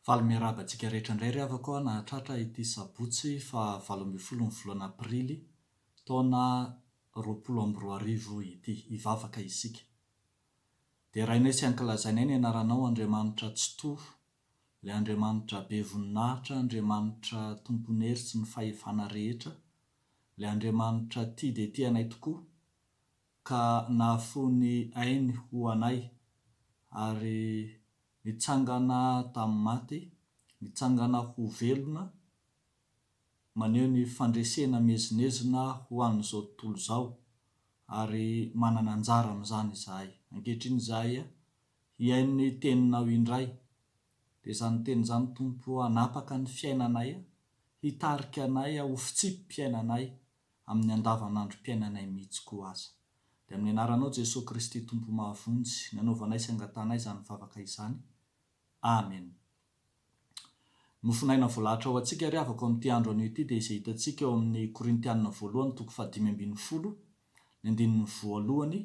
Faly miarahaba antsika rehetra indray ry havako aho nahatratra ity sabotsy faha valo ambin'ny folo ny volana aprily taona roapolo amby roa arivo ity. Hivavaka isika. Derainay sy ankilazainay ny anaranao Andriamanitra Tsitoha, ilay Andriamanitra be voninahitra, Andriamanitra tompon'ny hery sy ny fahefana rehetra, ilay Andriamanitra tia dia tia anay tokoa, ka nahafoy ny ainy ho anay, ary nitsangana tamin'ny maty, nitsangana ho velona, maneho ny fandresena miezinezina ho an'izao tontolo izao, ary manana anjara amin'izany izahay. Ankehitriny izahay hihaino ny Teninao indray. Dia izany Teny izany, Tompo, hanapaka ny fiainanay, hitarika anay ho fitsipi-piainanay amin'ny andavanandrom-piainanay mihitsy koa aza. Dia amin'ny anaranao Jesoa Kristy Tompo mahavonjy nanaovanay sy angatanay izany vavaka izany. Amen. Ny hofonaina voalahatra ho antsika ry havako amin'ity andro anio ity dia izay hitantsika ao amin'ny Korintianina voalohany toko fahadimy ambin'ny folo, ny andininy voalohany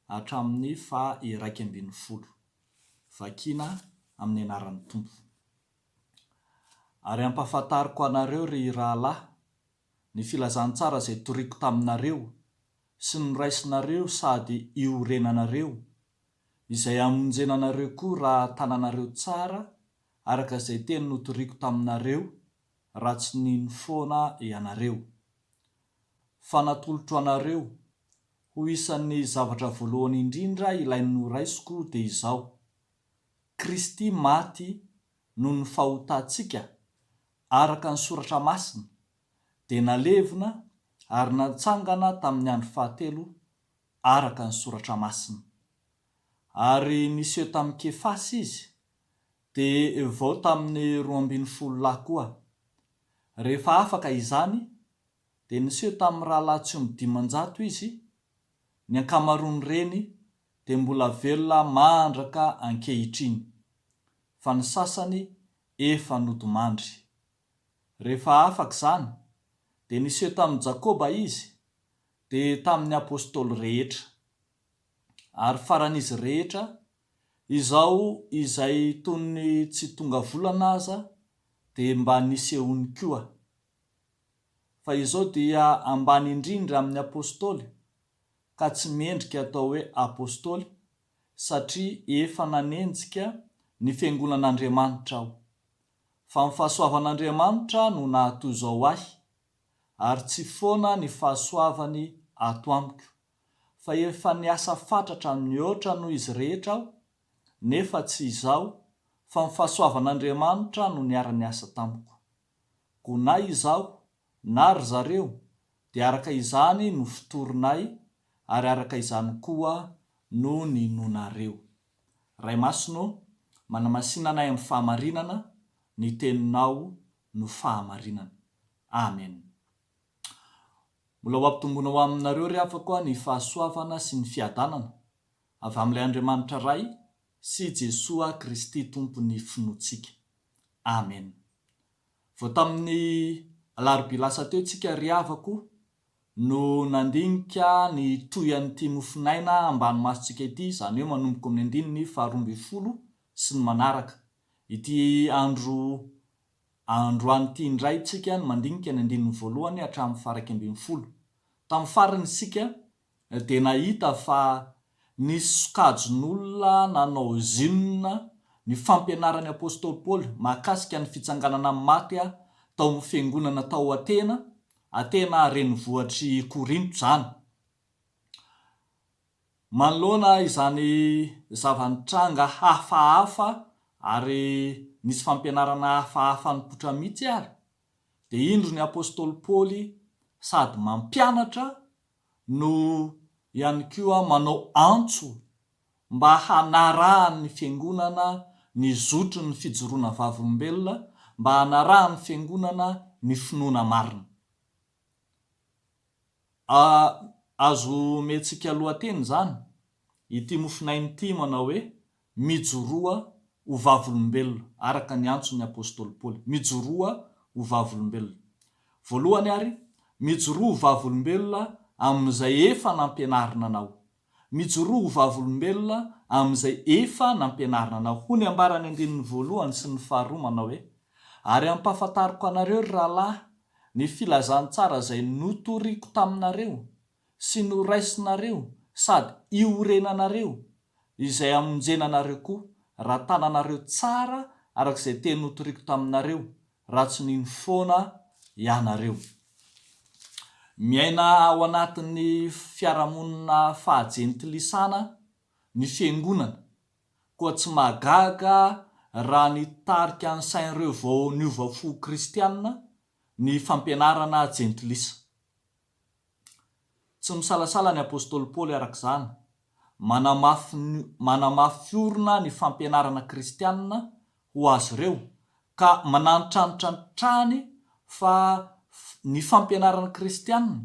hatramin'ny faha iraika ambin'ny folo. Vakiana amin'ny anaran'ny Tompo. Ary ampahafantariko anareo ry rahalahy, ny filazantsara izay toriako taminareo sy noraisinareo sady iorenanareo, izay hamonjena anareo koa raha tananareo tsara araka izay teny notoriako taminareo raha tsy nino foana ianareo. Fa natolotro anareo, ho isan'ny zavatra voalohany indrindra ilay noraisiko dia izao, Kristy maty noho ny fahotantsika araka ny Soratra Masina, dia nalevina ary natsangana tamin'ny andro fahatelo araka ny Soratra Masina. Ary niseho tamin'i Kefasy Izy, dia vao tamin'ny roa ambin'ny folo lahy koa. Rehefa afaka izany, dia niseho tamin'ny rahalahy tsy omby dimanjato Izy, ny ankamaroan'ireny dia mbola velona mandraka ankehitriny, fa ny sasany efa nodimandry. Rehefa afaka izany, dia niseho tamin'i Jakoba Izy, dia tamin'ny Apostoly rehetra. Ary faran'izy rehetra, izao izay toy ny tsy tonga volana aza dia mba nisehoany koa. Fa izao dia ambany indrindra amin'ny Apostoly, ka tsy mendrika atao hoe Apostoly satria efa nanenjika ny Fiangonan'Andriamanitra aho. Fa ny fahasoavan'Andriamanitra no nahatoizao ahy, ary tsy foana ny fahasoavany ato amiko, fa efa niasa fatratra mihoatra noho izy rehetra aho, nefa tsy izaho, fa ny fahasoavan'Andriamanitra no niara-niasa tamiko. Koa na izaho na ry zareo dia araka izany no fotorinay ary araka izany koa no ninoanareo. Ray Masina ô, manamasina anay amin'ny fahamarinana, ny Teninao no fahamarinana. Amen. Mbola ho ampitomboina ho aminareo ry havako a ny fahasoavana sy ny fiadanana avy amin'ilay Andriamanitra Ray sy Jesoa Kristy Tompon'ny finoantsika. Amen. Vao tamin'ny alarobia lasa teo tsika ry havako no nandinika ny toy an'ity mofonaina ambany masontsika ity, izany hoe manomboka amin'ny andininy faharoa ambin'ny folo sy ny manaraka. Ity andro androany ity indray tsika no mandinika ny andininy voalohany hatramin'ny faharaika ambin'ny folo. Tamin'ny farany isika dia nahita fa nisy sokajin'olona nanao zim ny fampianaran'ny apostoly Paoly mahakasika ny fitsanganana amin'ny maty tao amin'ny fiangonana tao Atena, Atena renivohitr'i Korinto izany. Manoloana izany zava-nitranga hafahafa ary nisy fampianarana hafahafa nipoitra mihitsy ary. dia indro ny apostoly Paoly sady mampianatra no ihany koa manao antso mba hanarahan'ny fiangonana ny zotry ny fijoroana vavolombelona, mba hanarahan'ny fiangonana ny finoana marina. A Azo omentsika lohateny izany ity mofonaina ity manao hoe, Mijoroa ho vavolombelona, araka ny antson'ny apostoly Paoly. Mijoroa ho vavolombelona. Voalohany àry, mijoroa ho vavolombelona amin'izay efa nampianarina anao. Mijoroa ho vavolombelona amin'izay efa nampianarina anao. Hoy ny ambaran'ny andininy voalohany sy ny faharoa, manao hoe, Ary ampahafantariko anareo, ry rahalahy, ny filazantsara izay notoriko taminareo, sy noraisinareo sady iorenanareo izay hamonjena anareo koa raha tananareo tsara araka izay teny notoriko taminareo raha tsy nino foana ianareo. Miaina ao anatin'ny fiarahamonina faha-jentilisana ny fiangonana koa tsy mahagaga raha ny tarika nisain'ireo vao niova fo kristiana ny fampianarana jentilisa. Tsy misalasala ny apostoly Paoly araka izany, manamafy manamafy orina ny fampianarana kristiana ho azy ireo, ka manantitrantitra hatrany fa ny fampianarana kristiana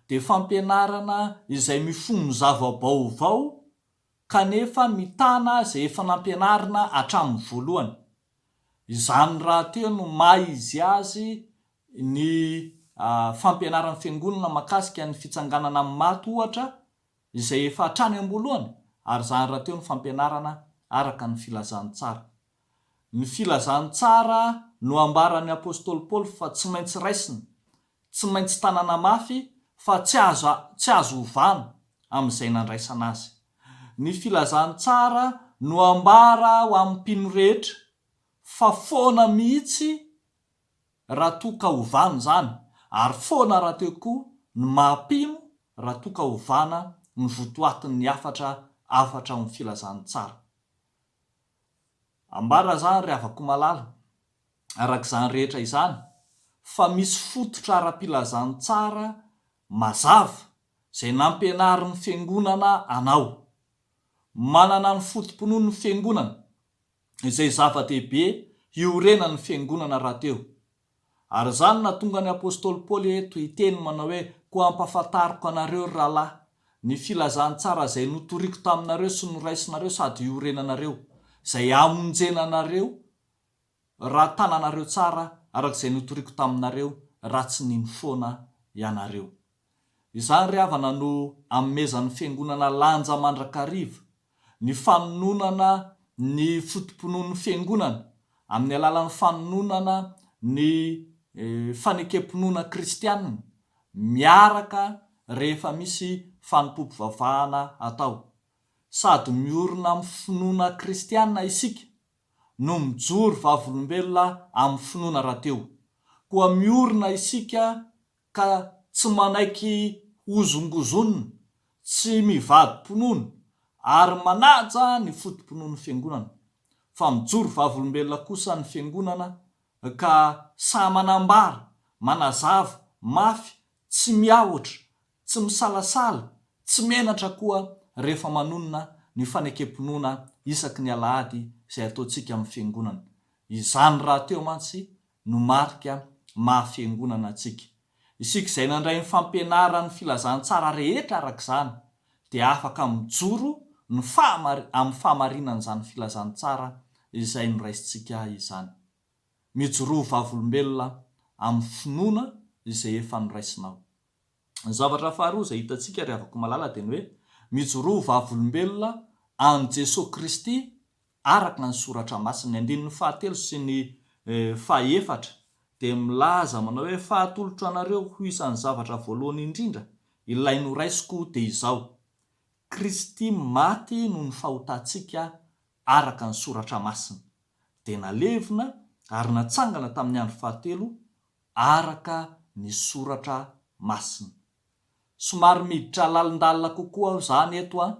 dia fampianarana izay mifono zava-baovao kanefa mitana izay efa nampianarina hatramin'ny voalohany. Izany rahateo no maha izy azy Ny fampianaran'ny Fiangonana makasika ny fitsanganana amin'ny maty ohatra izay efa hatrany am-boalohany ary izany rahateo ny fampianarana araka ny Filazantsara. Ny Filazantsara no ambaran'ny Apostoly Paoly fa tsy maintsy raisina, tsy maintsy tanana mafy fa tsy azo tsy azo ovana amin'izay nandraisana azy. Ny Filazantsara no ambara ho amin'ny mpino rehetra fa foana mihitsy raha toa ka ovana izany ary foana rahateo koa ny maha mpino raha toa ka ovana ny votoatin'ny hafatra hafatra ao amin'ny filazan'ny tsara ambara izany ry havako malala araka izany rehetra izany fa misy fototra ara-pilazan'ny tsara mazava izay nampianarin'ny fiangonana anao manana ny foto-pinoan'ny fiangonana izay zava-dehibe hiorenan'ny Fiangonana rahateo. Ary izany nahatonga ny apostoly Paoly eto hiteny manao hoe, Koa ampahafantariko anareo, ry rahalahy, ny filazantsara izay notoriko taminareo sy noraisinareo sady hiorenanareo, izay hamonjena anareo raha tananareo tsara araka izay notoriko taminareo, raha tsy nino foana ianareo. Izany ry havana no anomezan'ny Fiangonana lanja mandrakariva, ny fanononana ny foto-pinoan'ny Fiangonana amin'ny alalan'ny fanononana ny fanekem-pinoana kristiana miaraka rehefa misy fanompoam-pivavahana atao. Sady miorina amin'ny finoana kristiana isika no mijoro vavolombelona amin'ny finoana rahateo. Koa miorina isika ka tsy manaiky hozongozonina, tsy mivadi-pinoana ary manaja ny foto-pinoan'ny Fiangonana, fa mijoro vavolombelona kosa ny Fiangonana ka sahy manambara, manazava, mafy, tsy miahotra, tsy misalasala, tsy menatra koa rehefa manonona ny fanekem-pinoana isaky ny Alahady izay ataontsika amin'ny Fiangonana. Izany rahateo mantsy no marika maha fiangonana antsika. Isika izay nandray ny fampianaran'ny filazantsara rehetra araka izany dia afaka mijoro ny fahamari amin'ny fahamarinan'izany filazantsara izay noraisintsika izany. Mijoroa vavolombelona amin'ny finoana izay efa noraisinao. Ny zavatra faharoa izay hitantsika ry havako malala dia ny hoe mijoroa vavolombelona an'i Jesoa Kristy Araka ny Soratra Masina, ny andininy fahatelo sy ny fahefatra dia milaza manao hoe, Fa atolotro anareo ho isan'ny zavatra voalohany indrindra, ilay noraisiko dia izao, Kristy maty noho ny fahotantsika araka ny Soratra Masina, dia nalevina ary natsangana tamin'ny andro fahatelo araka ny Soratra Masina. Somary miditra lalindalina kokoa aho izany eto an!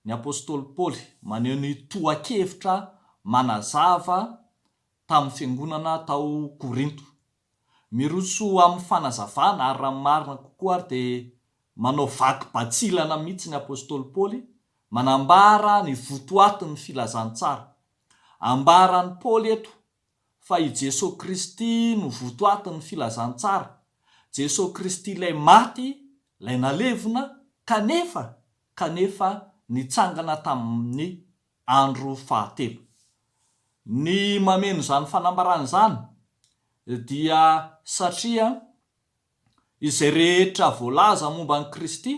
Ny apostoly Paoly maneho ny tohan-kevitra manazava tamin'ny fiangonana tao Korinto. Miroso amin'ny fanazavana, ary raha ny marina kokoa ary dia manao vaky batsilana mihitsy ny apostoly Paoly, manambara ny votoatin'ny filazantsara. Ambaran'i Paoly eto fa i Jesoa Kristy no votoatin'ny filazantsara, Jesoa Kristy ilay maty, ilay nalevina, kanefa, kanefa nitsangana tamin'ny andro fahatelo. Ny mameno izany fanambarana izany dia satria izay rehetra voalaza momba an'i Kristy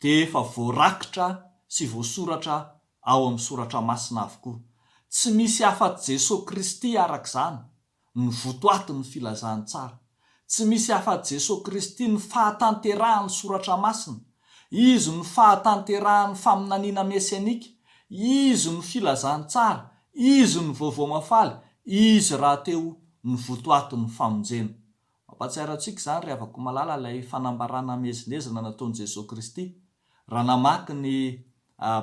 dia efa voarakitra sy voasoratra ao amin'ny Soratra Masina avokoa. Tsy misy afa-tsy Jesoa Kristy araka izany no votoatin'ny Filazantsara. Tsy misy afa-tsy Jesoa Kristy no fahatanterahan'ny Soratra Masina. Izy no fahatanterahan'ny faminaniana mesianika. Izy no Filazantsara. Izy no Vaovao Mahafaly. Izy rahateo no votoatin'ny famonjena. Mampahatsiaro antsika izany ry havako malala ilay fanambarana hamezinezina nataon'i Jesoa Kristy raha namaky ny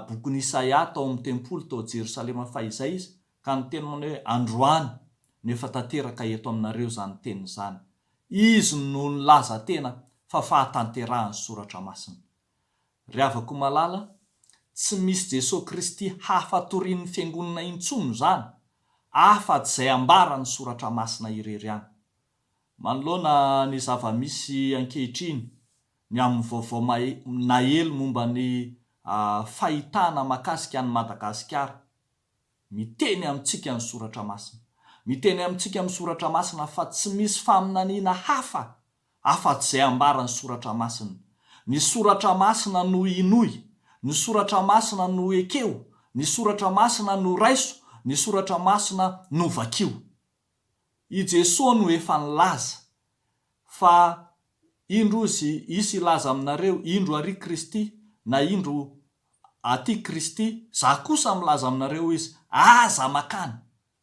bokin'i Isaia tao amin'ny tempoly tao Jerosalema fahizay izy ka niteny manao hoe androany no efa tanteraka eto aminareo izany teny izany. Izy no nilaza tena fa fahatanterahan'ny soratra masina. Ry havako malala, tsy misy Jesoa Kristy hafa torian'ny fiangonana intsony izany afa tsy izay ambaran'ny soratra masina irery ihany. Manoloana ny zava-misy ankehitriny, ny amin'ny vaovao nahely momba ny fahitana makasika an'i Madagasikara, miteny amintsika ny Soratra Masina. Miteny amintsika ny Soratra Masina fa tsy misy faminaniana hafa afa-tsy izay ambaran'ny Soratra Masina. Ny Soratra Masina no hinoy, ny Soratra Masina no ekeo, ny Soratra Masina no raiso, ny Soratra Masina no vakio. I Jesoa no efa nilaza, fa indro izy hisy hilaza aminareo, indro àry Kristy, na indro aty Kristy, zah kosa milaza aminareo izy, aza makany,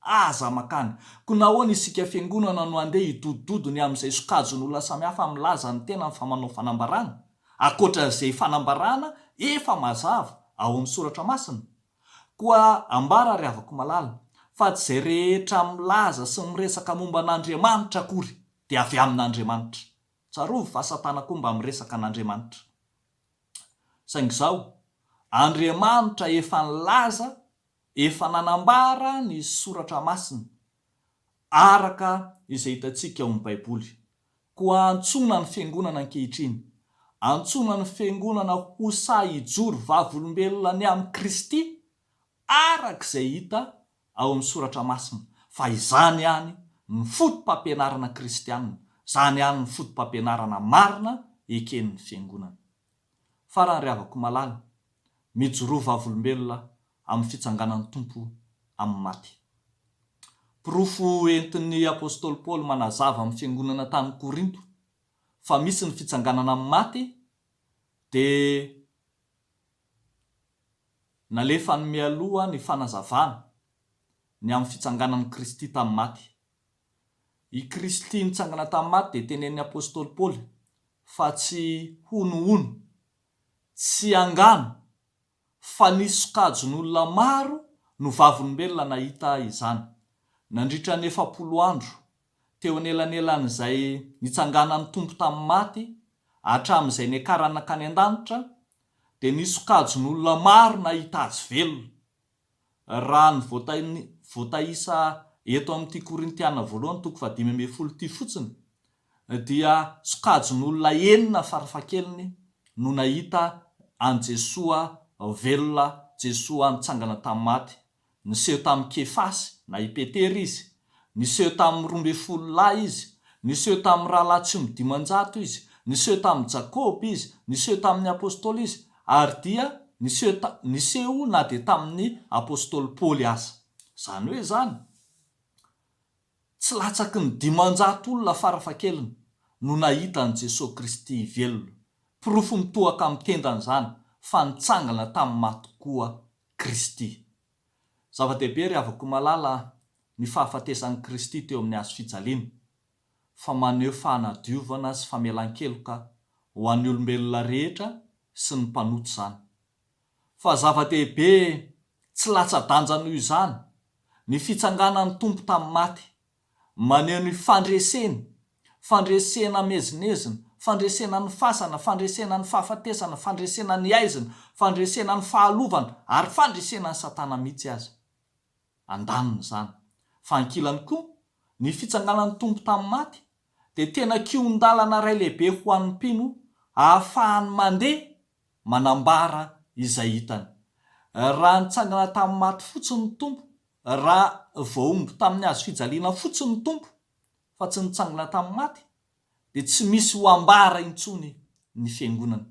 aza makany. Koa nahoana isika fiangonana no handeha hidodododo ny amin'izay sokajin'olona samihafa milaza ny tenany fa manao fanambarana, ankoatra izay fanambarana efa mazava ao amin'ny soratra masina? Koa ambara ry havako malala, fa tsy izay rehetra milaza sy miresaka momba an'Andriamanitra akory dia avy amin'Andriamanitra. Tsarovy fa Satana koa mba miresaka an'Andriamanitra. Saingy izao, Andriamanitra efa nilaza, efa nanambara ny Soratra Masina, araka izay hitantsika ao amin'ny Baiboly. Koa antsoina ny Fiangonana ankehitriny, antsoina ny Fiangonana ho sahy hijoro vavolombelona ny amin'i Kristy, araka izay hita ao amin'ny Soratra Masina, fa izany ihany no fotopampianarana kristiana, izany ihany no fotopampianarana marina eken'ny Fiangonana. Farany ry havako malala, mijoroa vavolombelona amin'ny fitsanganan'ny Tompo amin'ny maty. Porofo entin'ny apostoly Paoly manazava amin'ny fiangonana tany Korinto fa misy ny fitsanganana amin'ny maty dia nalefany mialoha ny fanazavana ny amin'ny fitsanganan'i Kristy tamin'ny maty. I Kristy nitsangana tamin'ny maty dia tenenin'ny apostoly Paoly fa tsy honohono, tsy angano fa nisy sokajin'olona maro no vavolombelona nahita izany, nandritra ny efapolo andro, teo anelanelan'izay nitsanganan'ny Tompo tamin'ny maty hatramin'izay niakarany nankany an-danitra, dia nisy sokajin'olona maro nahita Azy velona. raha ny voataisa eto amin'ity Korintiana voalohany toko fahadimy ambin'ny folo ity fotsiny dia sokajin'olona enina farafahakeliny no nahita an'i Jesoa velona, Jesoa nitsangana tamin'ny maty. Niseho tamin'i Kefasy na i Petera Izy Niseho tamin'ny roa ambin'ny folo lahy Izy, niseho tamin'ny rahalahy tsy omby dimanjato Izy, niseho tamin'i Jakoba Izy, niseho tamin'ny apostoly Izy, ary dia niseho ta, niseho na dia tamin'ny apostoly Paoly aza. Izany hoe izany, tsy latsaky ny dimanjato olona farafahakeliny no nahita an'i Jesoa Kristy velona. Porofo mitohaka amin'ny tendany izany fa nitsangana tamin'ny maty koa Kristy. Zava-dehibe ry havako malala a, ny fahafatesan'i Kristy teo amin'ny hazo fijaliana, fa maneho fanadiovana sy famelan-keloka ho an'ny olombelona rehetra sy ny mpanota izany. Fa zava-dehibe tsy latsa-danja noho izany, ny fitsanganan'ny Tompo tamin'ny maty Maneho ny fandreseny, fandresena amezinezina, fandresena ny fasana, fandresena ny fahafatesana, fandresena ny aizina, fandresena ny fahalovana ary fandresena an'i Satana mihitsy aza. Andanin'izany, fa ankilany koa, ny fitsanganan'ny Tompo tamin'ny maty dia tena kihon-dalana iray lehibe ho an'ny mpino ahafahany mandeha manambara izay hitany. Raha nitsangana tamin'ny maty fotsiny ny Tompo, raha voahombo tamin'ny hazo fijaliana fotsiny ny Tompo, fa tsy nitsangana tamin'ny maty, dia tsy misy ho ambara intsony ny Fiangonana.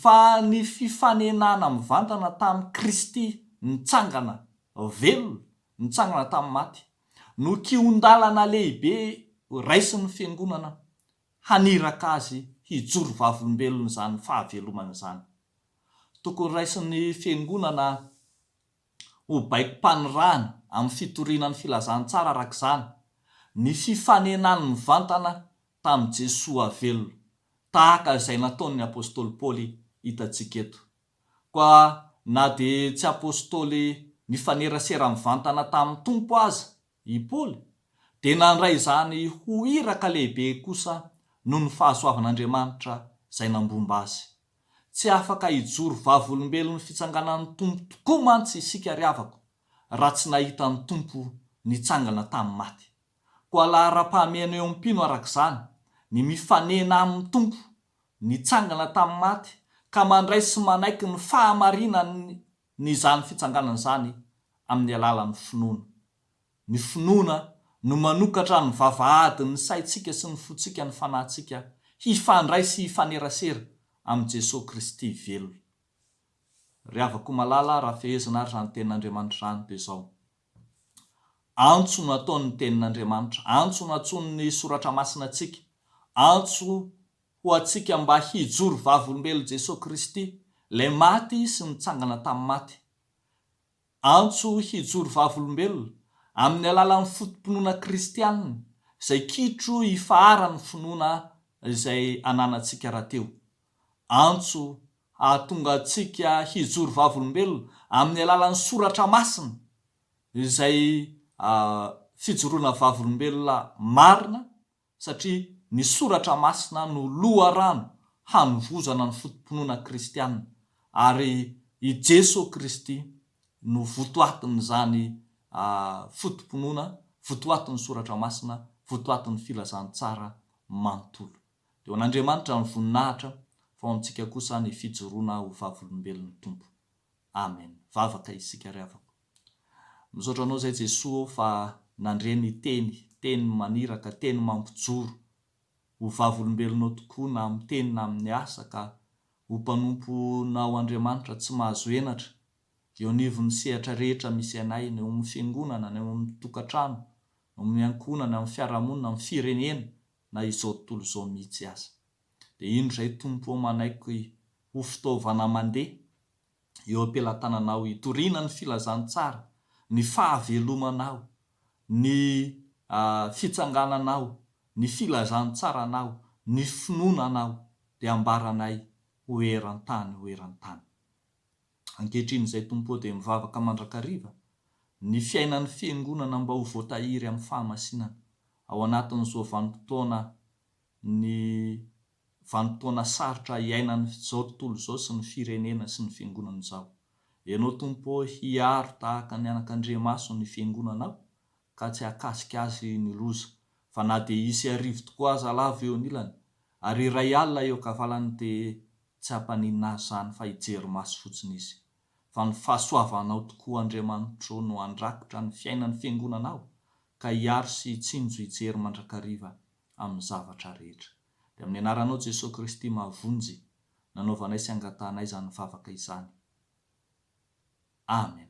Fa ny fifanenana mivantana tamin'i Kristy nitsangana velona, nitsangana tamin'ny maty, no kihon-dalana lehibe raisin'ny Fiangonana haniraka azy hijoro vavolombelona izany fahavelomana izany. Tokony raisin'ny Fiangonana ho baikom-panirahana amin'ny fitoriana ny filazantsara araka izany ny fifanenany mivantana tamin'i Jesoa velona, tahaka izay nataon'ny Apostoly Paoly hitantsika eto. Koa na dia tsy Apostoly nifanerasera mivantana tamin'ny Tompo aza I Paoly dia nandray izany ho iraka lehibe kosa noho ny fahasoavan'Andriamanitra izay nambomba azy. Tsy afaka hijoro vavolombelon'ny fitsanganan'ny Tompo tokoa mantsy isika ry havako, raha tsy nahita ny Tompo nitsangana tamin'ny maty. Koa laharam-pahamehana eo amin'ny mpino araka izany ny mifanena amin'ny Tompo nitsangana tamin'ny maty ka mandray sy manaiky ny fahamarinan'ny ny izany fitsanganana izany amin'ny alalan'ny finoana. Ny finoana no manokatra ny vavahadin'ny saintsika sy ny fontsika ny fanahintsika hifandray sy hifanerasera amin'i Jesoa Kristy velona. Ry havako malala raha fehezina ary izany tenin'Andriamanitra izany dia izao, antso no ataony ny tenin'Andriamanitra, antso no antsoiny ny soratra masina antsika, antso ho antsika mba hijoro vavolombelon'i Jesoa Kristy, ilay maty sy nitsangana tamin'ny maty. Antso hijoro vavolombelona, amin'ny alalan'ny foto-pinoana kristiana, izay kitro ifaharan'ny finoana izay ananantsika rahateo. Antso hahatonga antsika hijoro vavolombelona amin'ny alalan'ny soratra masina, izay fijoroana vavolombelona marina, satria ny Soratra Masina no loharano hanovozana ny foto-pinoana kristiana, ary i Jeso Kristy no votoatin'izany foto-pinoana, votoatin'ny Soratra Masina, votoatin'ny filazantsara manontolo. Dia ho an'Andriamanitra ny voninahitra, fa ho amintsika kosa ny fijoroana ho vavolombelon'ny Tompo. Amen. Vavaka isika ry havako. Misaotra anao zay Jesoa ô fa nandre ny teny, teny maniraka, teny mampijoro. Ho vavolombelonao tokoa na amin'ny teny na amin'ny asa ka ho mpanomponao Andriamanitra tsy mahazo henatra eo anivon'ny sehatra rehetra misy anay, ny ao amin'ny fiangonana, ny ao amin'ny tokantrano, ny ao amin'ny ankohonana, ny amin'ny fiarahamonina, ny firenena na izao tontolo izao mihitsy aza. Dia indro izay Tompo ô manaiky ho fitaovana mandeha eo am-pelatananao hitoriana ny filazantsara, ny fahavelomanao, ny fitsangananao, ny filazantsaranao, ny finoananao, dia ambaranay ho eran-tany ho eran-tany. Ankehitriny izay Tompo ô dia mivavaka mandrakariva ny fiainan'ny Fiangonana mba ho voatahiry amin'ny fahamasinana ao anatin'izao vanim-potoana ny vanim-potoana sarotra iainan'izao tontolo izao sy ny firenena sy ny fiangonana izao. Ianao Tompo ô hiaro tahaka ny anakandriamaso ny fiangonanao ka tsy hakasika azy ny loza, fa na dia hisy arivo tokoa aza lavo eo anilany, ary iray alina eo ankavalany dia tsy hampaninona azy izany fa hijery maso fotsiny izy. Fa ny fahasoavanao tokoa Andriamanitro no handrakotra ny fiainan'ny fiangonanao ka hiaro sy hitsinjo hijery mandrakariva. amin'ny zavatra rehetra. Dia amin'ny anaranao Jesoa Kristy mahavonjy nanaovanay sy angatahanay izany vavaka izany. Amen.